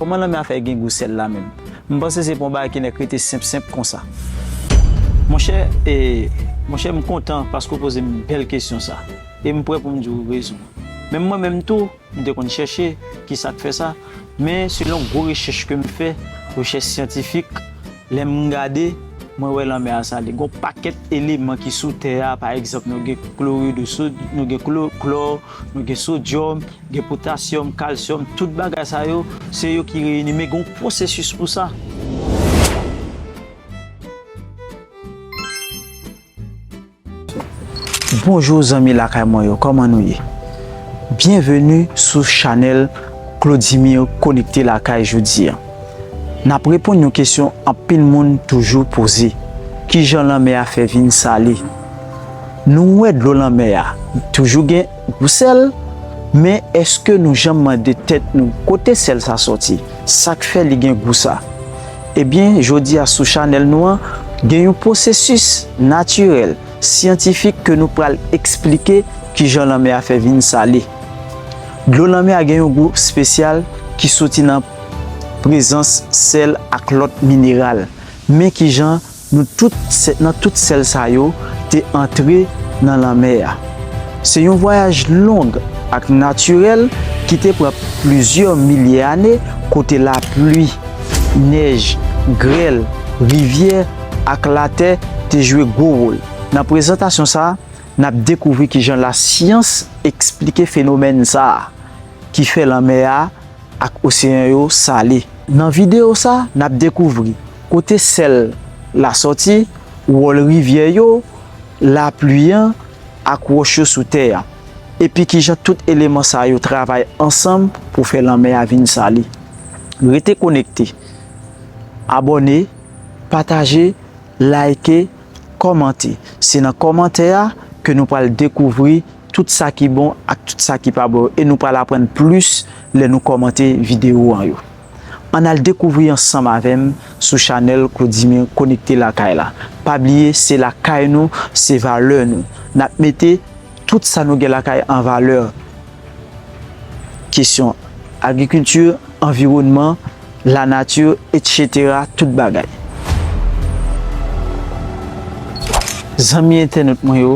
Koman lanmè a fè gen gou sèl la menm? M panse se pa yon bagay ki nèk rete senp senp konsa. Monchè e Monchè m kontan paske w poze m bèl kesyon sa e m prè pou m di w rezon. Menm mwen menm tou m te konn chèche kisa k fè sa men selon gwo rechèch ke m fè, rechèch syantifik, Lè m gade, mwen wè lanmè a sale. Gen yon pakèt eleman ki sou tè a, pa egzanp, nou gen klori de sod, nou gen klò, nou gen sodyòm, gen potasyòm, kalsyòm, tout bagay sa yo, se yo ki reyini, men gen yon pwosesis pou sa. Bonjour zanmi lakay mwen yo kòman nou ye byenveni sou chanèl Claudimir konekte lakay jodi an nap reponn yon kesyon anpil moun toujou poze kijan lanmè a fè vin sale nou wè dlo lanmè a toujou gen gou sèl men eske nou janm mande tèt nou kote sèl sa sòti sak fè li gen gou sa Ebyen jodi a sou chanèl nou an gen yon pwosesis natirèl, syantifik ke nou pral eksplike kijan lanmè a fè vin sale. Dlo lanmè a gen yon gou spesyal ki soti nan prezans sèl ak lòt mineral. Men kijan. Nou tout, nan tout sèl sa yo, te antre nan lanmè a. Se yon vwayaj long ak natirèl ki te pran plizyè milye ane kote lapli, nèj, grèl, rivyè ak latè te jwe gwo wòl. Nan prezantasyon sa a, n ap dekouvri kijan lasyans esplike fenomèn sa a ki fè lanmè a. ak oseyan yo sale. Nan videyo sa, n ap dekouvri kote sèl la sòti, wòl rivyè yo, lapli an, ak wòch yo sou tè a, epi kijan tout eleman sa yo travay ansanm pou fè lanmè a vin sale. Rete konekte! Abòne, pataje, layke, kòmante. Se nan kòmantè a ke nou pral dekouvri. tout sa ki bon ak tout sa ki pa bon yo e nou pral aprann plis lè nou kòmante video an yo. Ann al dekouvri ansanm avèm sou chanèl Claudimir konekte lakay la pa bliye se lakay nou se valè nou nap mete tout sa nou gen lakay an valè kesyon agrikilti anviwònman lanati etc tout bagay. Zanmi entènot mwen yo.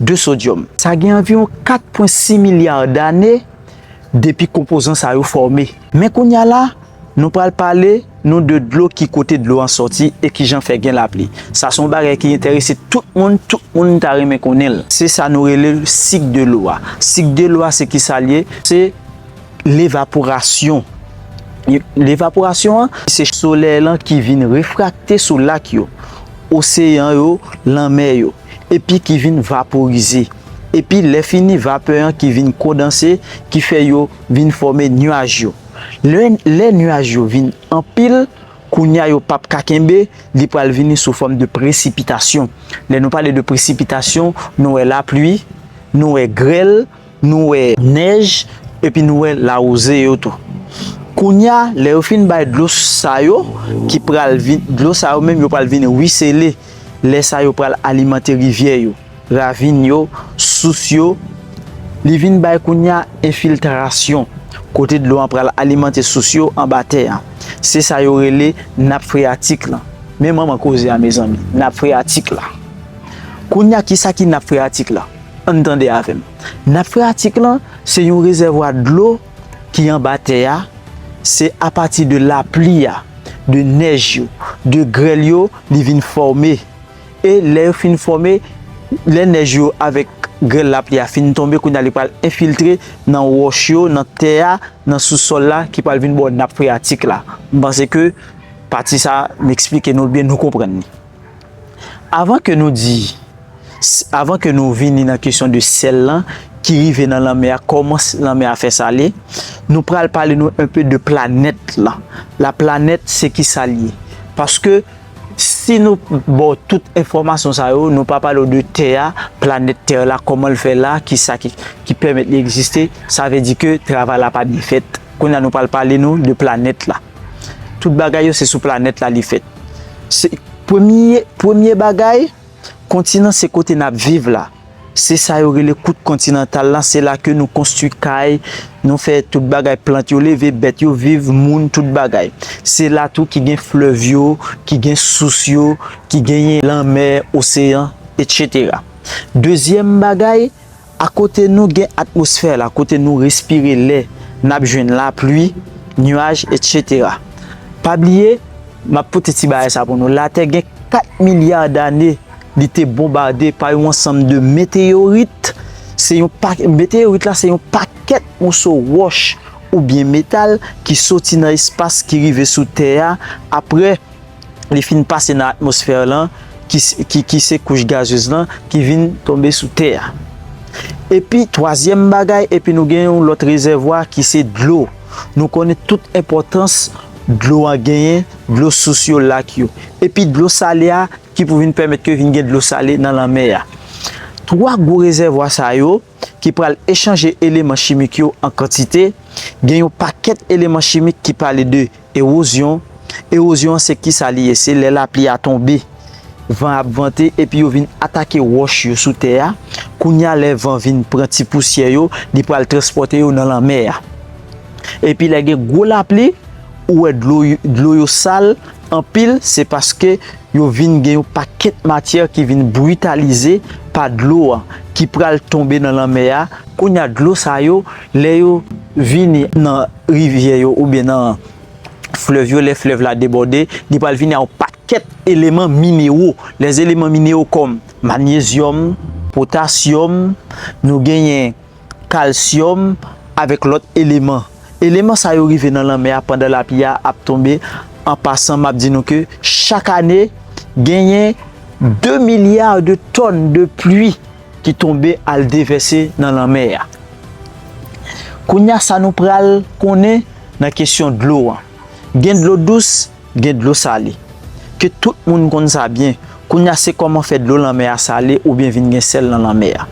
de sodyòm. Sa gen anviwon 4,6 milya dane depi konpozan sa yo fòme. Men kounye a la, nou pral pale nou de dlo, ki kote dlo an sòti e ki jan fè gen lapli. Sa se yon bagay ki enterese tout moun, tout moun ta renmen konnen l. Se sa nou rele sik de lo a. Sik de lo a se ki sa l ye? Se levaporasyon. Levaporasyon an, se solèy lan ki vin refrakte sou lak yo, oseyan yo, lanmè yo. epi ki vin vaporize, epi lè fini vapè an ki vin kondanse ki fè yo vin fòme nuaj yo. Lè lè nuaj yo vin anpil, kounya yo pap ka kenbe, li pral vini sou fòm de presipitasyon. Lè nou pale de presipitasyon, nou wè lapli, nou wè grèl. nou wè nèj epi nou wè lawouze yo tou. Kounye a, lè yo fin bay dlo sa yo ki pral vin, dlo sa yo menm yo pral vin ruisseler, lè sa yo pral alimante rivyè yo, ravin yo, sous yo, li vin bay kounye a enfiltrasyon kote dlo an pral alimante sous yo anba tè a. Se sa yo rele nap freyatik lan. Men manman koze a mezanmi, nap freyatik la. Kounye a kisa ki nap freyatik la? An n tande avè m. Nap freyatik lan se yon rezèvwa dlo ki anba tè a, se apati de lapli a, de nèj yo, de grèl yo li vin fòme. E lè yo fin fòme, lè nèj yo avèk grèl lapli a fin tonbe kounye a li pral enfiltre nan wòch yo, nan tè a, nan sou sòl la ki pral vin bò nap freyatik la. M panse ke pati sa m eksplike nou byen, nou konprann li. Avan ke nou di, avan ke nou vini nan kesyon de sèl lan ki rive nan lanmè a, kòman lanmè a fè sale, nou pral pale nou enpe de planèt lan. La planèt se ki sa l ye? Paske si nou ba w tout enfòmasyon sa yo, nou pa pale w de tè a, planèt tè la, kòman l fè la, ki sa ki pèmèt li egziste, sa vle di ke travay la pa byen fèt. Kounye a nou pral pale nou de planèt la. Tout bagay yo se sou planèt la li fèt. Se premye, premye bagay, kontinan se kote n ap viv la. Se sa yo rele kwout kontinantal la, se la ke nou konstwi kay, nou fè tout bagay, plant yo leve, bèt yo viv, moun, tout bagay. Se la tou ki gen flèv yo, ki gen sous yo, ki genyen lanmè, oseyan, etc. Dezyèm bagay. Akote nou gen atmosfè la kote nou respire lè, nap jwenn lapli, nuaj etc. Pa bliye, map pote ti bagay sa pou nou, latè gen 4 milya dane li te bonbade pa yon ansanm de meteyorit, se yon pa, meteyorit la se yon pakèt moso wòch oubyen metal ki soti nan espas ki rive sou tè a apre. li fin pase nan atmosfè lan, ki se kouch gazez lan, ki vin tonbe sou tè a. Epi, twazyèm bagay, epi nou gen yon lòt rezèvwa ki se dlo. Nou konnen tout enpòtans dlo an genyen, dlo sous yo, lak yo. Epi dlo sale a, ki pou vin pèmèt ke vin gen dlo sale nan lanmè a. Twa gwo rezèvwa sa yo. ki pral echanje eleman chimik yo an kantite, gen yon pakèt eleman chimik ki pale de ewozyon, ewozyon an se kisa li ye? Se lè lapli a tonbe, van ap vante epi yo vin atake wòch yo sou tè a, kounye a lè van vin pran ti pousyè yo, li pral transpòte yo nan lanmè a. Epi lè gen gwo lapli, ou wè dlo yo sal, Anpil se paske yo vin gen yon pakèt matyè ki vin britalize pa dlo an ki pral tonbe nan lanmè a, kounye a dlo sa yo lè yo vini nan rivyè yo oubyen nan flèv yo lè flèv la debòde li pral vini a yon pakèt eleman minewo lèzeleman minewo kòm manyezyòm, potasyòm, nou genyen. kalsyòm avèk lòt eleman. Eleman sa yo rive nan lanmè a pandan lapli a ap tonbe. An pasan map di nou ke chak ane genyen 2 milya de tòn de pli ki tonbe al devèse nan lanmè a. Kounya sa nou pral konnen nan kesyon dlo an. Gen dlo dous, gen dlo sale. Ke tout moun konn sa byen, kounye a se kòman fè dlo lanmè a sale oubyen vin gen sèl nan lanmè a.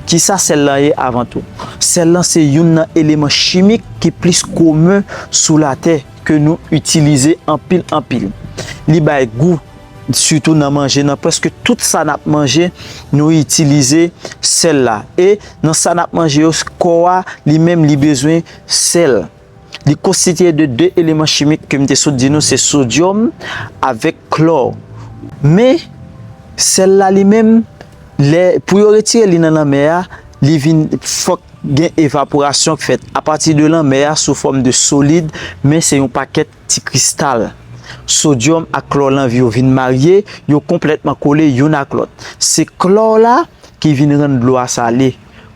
Kisa sèl lan ye avan tou? Sèl lan se youn nan eleman chimik ki plis komen sou latè ke nou itilize anpil anpil. Li bay gou sitou nan manje, nan prèske tout sa nap manje nou itilize sèl la. E nan sa nap manje yo kò a li menm li bezwen sèl. Li konstitiye de 2 eleman chimik ke m te sot di nou se sodyòm avèk klò. Men, sèl la li menm, lè, pou yo retire li nan lanmè a, li vin, fòk gen evaporasyon k fèt apati de lanmè a sou fòm de solid, men se yon pakèt ti kristal. Sodyòm ak klò lan yo vin marye, yo konplètman kole youn ak lòt. Se klò la ki vin rann dlo a sale.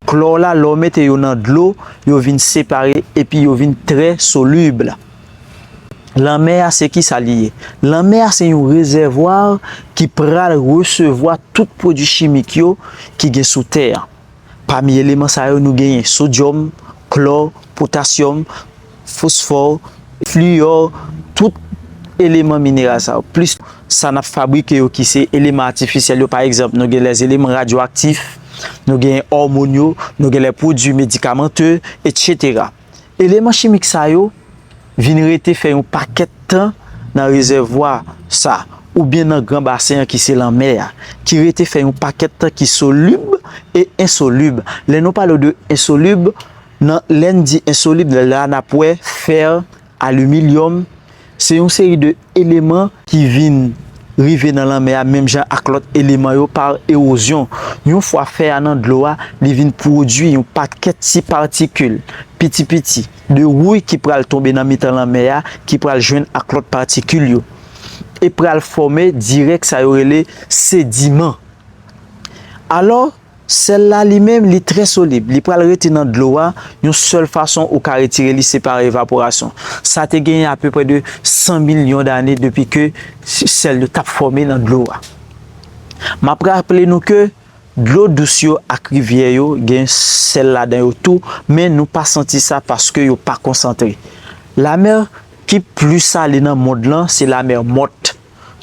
Klò la lè w mete yo nan dlo yo vin separe epi yo vin trè solib. Lanmè a se kisa li ye? Lanmè a se yon rezèvwa ki pral resevwa tout pwodui chimik yo ki gen sou tè an. Pami eleman sa yo nou genyen sodyòm, klò, potasyòm. fosfò, fliyò, tout eleman mineral sa yo, plis sa n ap fabrike yo ki se eleman atifisyèl yo, pa egzanp, nou gen lèzeleman radyoaktif, nou gen òmon yo, nou gen lèpwodui medikamante, etsetera. Eleman chimik sa yo vin rete fè yon pakèt tan nan rezèvwa sa oubyen nan gran basen an ki se lanmè a, ki rete fè yon pakèt tan ki solib e ensolib. Lè nou pale de ensolib, Nan Lendi Ensolib la n ap wè fer, alimilyòm, se yon seri de eleman ki vin rive nan lanmè a menm jan ak lòt eleman yo par ewozyon. Yon fwa fè a nan dlo a, li vin pwodui yon pakèt ti patikil piti piti de wouy ki pral tonbe nan mitan lanmè a ki pral jwenn ak lòt patikil yo e pral fòme dirèk sa yo rele sediman. Alò, Sèl la li menm li trè solib, li pral rete nan dlo a, yon sèl fason ou ka retire li se pa evaporasyon. Sa te genyen apeprè de 100 milyon dane depi ke sèl yo tap fòme nan dlo a. Map raple nou ke dlo dous yo ak rivyè yo gen sèl ladan yo tou men nou pa santi sa paske yo pa konsantre. Lamè ki pli sale nan mond lan se lamè mòt.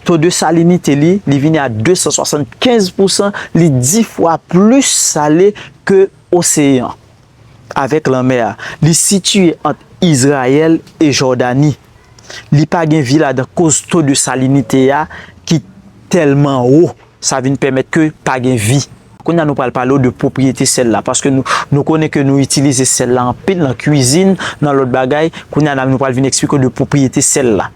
To de salinite li, li vini a 275 pousan, li 10 fwa plis sale ke oseyan avèk lanmè a. Li sitiye ant Izrayèl e Jòdani. Li pa gen vi ladan koz to de salinite a ki tèlman wo, sa vin pèmèt ke pa gen vi. Kounye a nou pral pale w de pwopriyete sèl la, paske nou konnen ke nou itilize sèl la anpil nan kwizin, nan lòt bagay, kounye a nou pral vin eksplike w de pwopriyete sèl la.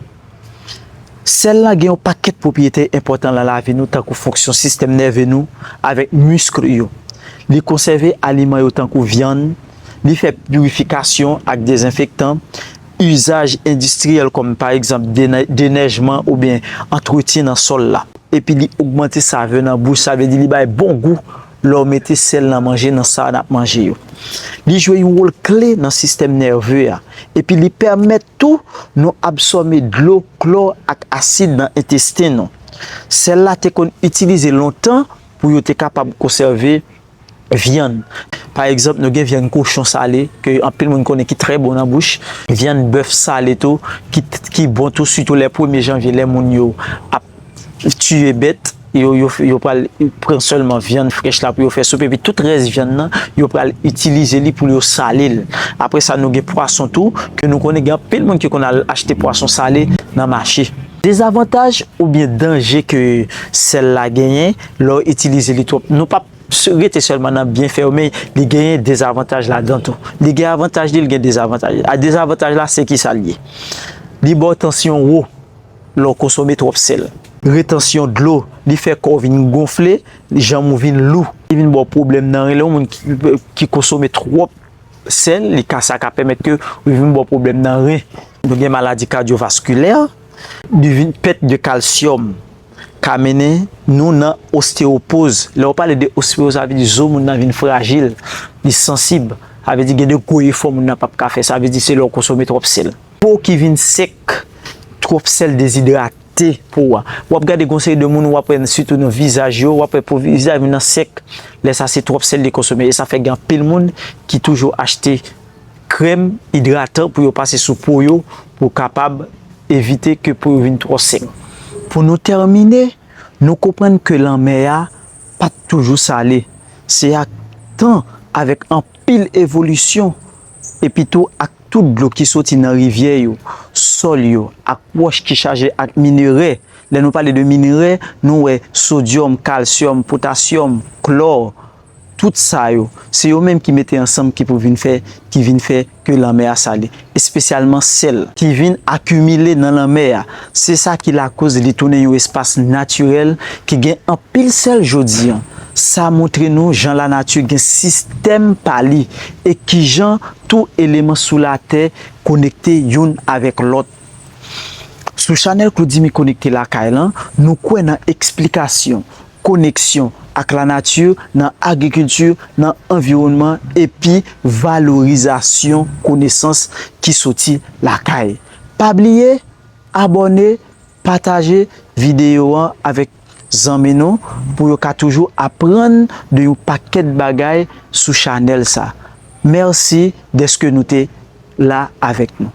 Sèl lan gen yon pakèt pwopriyete enpòtan lan lavi nou tankou fonksyon sistèm nève nou avèk miskl yo, li konsève aliman yo tankou vyann, li fè pirifikasyon ak dezenfektan, izaj endistriyèl kòm pa egzanp denèjman oubyen antretyen nan sòl la, epi li ogmante save nan bouch sa vle di li bay bon gou Lè w mete sèl nan manje nan sa n ap manje yo, li jwe yon wòl kle nan sistèm nève a epi li pèmèt tou nou absòme dlo, klò ak asid nan entesten nou. Sèl la te konn itilize lontan pou yo te kapab konsève vyann. Pa egzanp, nou gen vyann kochon sale ke anpil moun konnen ki trè bon nan bouch, vyann bèf sale tou ki bon tou sitou lè premye janvye lè moun yo ap. tiye bèt yo, yo pral pran sèlman vyann frèch la pou yo fè soup epi tout rès vyann nan yo pral itilize li pou yo sale l. Apre sa nou gen pwason tou ke nou konnen gen anpil moun ki konn al achte pwason sale nan mache. Dezavantaj oubyen danje ke sèl la genyen lè w itilize li twòp, nou pap rete sèlman nan byenfè yo men li genyen dezavantaj ladan tou. Li gen avantaj li, li gen dezavantaj li. Dezavantaj la se kisa li ye? Li ba w tansyon wo. lè w konsome twòp sèl. Retansyon dlo, li fè kò w vin gonfle, janm ou vin lou. Li vin ba w pwoblèm nan ren, lè yon moun ki konsome twòp sèl, li ka sa ka pèmèt ke li vin ba w pwoblèm nan ren. Nou gen maladi kadyovaskilè, li vin pèt de kalsyòm ka mennen nou nan osteyopoz. Lè yo pale de osteyopoz sa vle di zo moun nan vin frajil, li sansib, sa vle di gen de gwo efò moun nan pap ka fè, sa vle di se lè w konsome twòp sèl. Pow ki vin sek, twòp sèl dezidrate po a. Wap gade gon seri de moun wap wè sitou nan vizaj yo, wap wè po vizaj moun nan sèk, lè sa se twòp sèl li konsome e sa fè gen anpil moun ki toujou achte krèm idratan pou yo pase sou po yo pou kapab evite ke po yo vin twò sèk. Pou nou tèmine, nou konprann ke lanmè a pat toujou sale, se ak tan avèk anpil evolisyon epitou ak tout dlo ki soti nan rivyè yo, sòl yo ak wòch ki chaje ak minere, lè nou pale de minere, nou wè sodyòm, kalsyòm, potasyòm, klò, tout sa yo, se yo menm ki mete ansanm ki pou vin fè, ki vin fè ke lanmè a sale, espesyalman sèl. Ki vin akimile nan lanmè a, se sa ki lakoz li tounen yon espas natirèl ki gen anpil sèl jodi an, sa montre nou jan lanati gen sistèm pa li, e kijan tou eleman sou latè konekte youn avèk lòt. Sou chanèl Claudimi Konekte Lakay lan, nou kwè nan eksplikasyon, koneksyon ak lanati nan agrikilti, nan anviwònman epi valorizasyon konesans ki soti lakay. Pa bliye abòne Pataje videyo an avèk zanmi nou pou yo ka toujou aprann de yon pakèt bagay sou chanèl sa. Mèsi dèske nou te la avèk nou.